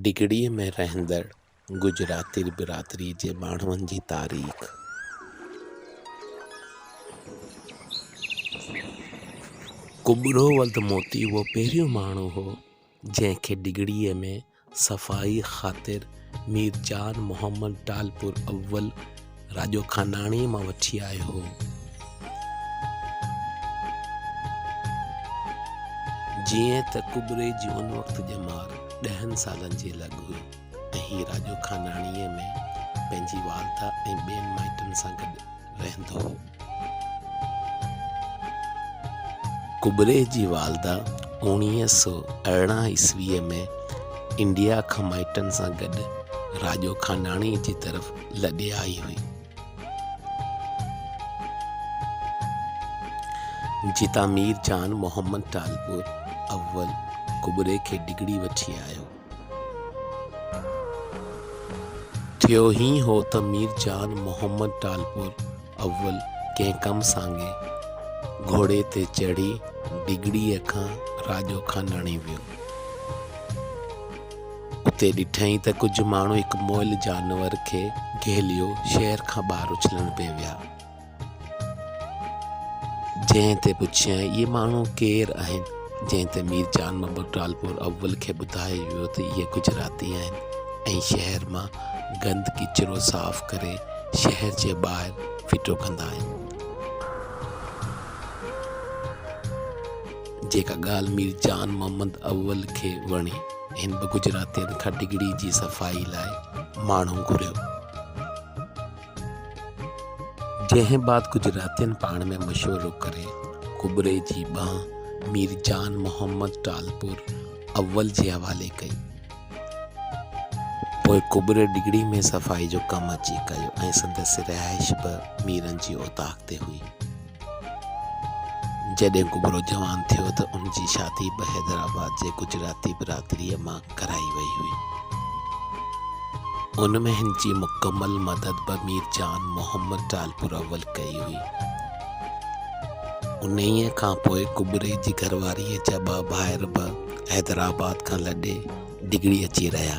ڊگهڙيء ۾ رهندڙ گجراتي برادريء جي ماڻهن جي تاريخ. ڪٻرو ولد موتي اهو پهريون ماڻهو هو، جنهن کي ڊگهڙيء ۾ صفائيء خاطر مير جان محمد ٽالپر اول، راڄو خاناڻي مان وٺي آيو هو. جيئن ته ڪٻري جي ان وقت ڄمار ڏهن سالن جي لڳ هئي ۽ هي راڄو خاناڻيء ۾ پنهنجي والده ۽ ٻين مائٽن سان گڏ رهندو هو. ڪٻري جي والده اوڻيهه سؤ ارڙهن عيسويء ۾ انڊيا کان مائٽن سان گڏ راڄو کانڊاڻي جي طرف لڏي آئي هئي، جتان مير جان محمد ٽالپور اول ڪٻري کي ڊگهڙي وٺي آيو. ٿيو هين هو ته مير جان محمد ٽالپور اول ڪنهن ڪم سانگي گهوڙي تي چڙهي ڊگهڙيء کان راڄو کان لڻي ويو. اتي ڏٺائين ته ڪجهه ماڻهو هڪ مئل جانور کي گهيليو شهر کان ٻاهر اڇلڻ پئي ويا. جنهن تي پڇيائين اهي ماڻهو ڪير آهن؟ جنهن تي مير جان محمد ٽالپور اول کي ٻڌايو ويو ته اهي گجراتي آهن ۽ شهر مان گند ڪچرو صاف ڪري شهر جي ٻاهر ڦٽو ڪندا آهن. جيڪا ڳالهه مير جان محمد اول کي وڻي، هن به گجراتين کان ڊگهڙي جي صفائي لاء ماڻهو گهريو. جنهن بعد ڪجهه راتين پاڻ ۾ مشورو ڪري ڪٻرئي جي ٻانهن مير جان محمد ٽالپور اول جي حوالي ڪئي. پوء ڪٻرئي ڊگهڙي ۾ صفائي جو ڪم اچي ڪيو ۽ سندس رهائش به ميرن جي اوطاق تي هئي. جڏهن ڪٻرو جوان ٿيو ته ان جي شادي به حيدرآباد جي گجراتي برادريء مان ڪرائي وئي هئي. ان ۾ هن جي مڪمل مدد به مير جان محمد ٽالپور اول ڪئي هئي. انهيء کان پوء ڪٻري جي گهرواريء جا ٻه ڀائر به حيدرآباد کان لڏي ڊگهڙي اچي رهيا.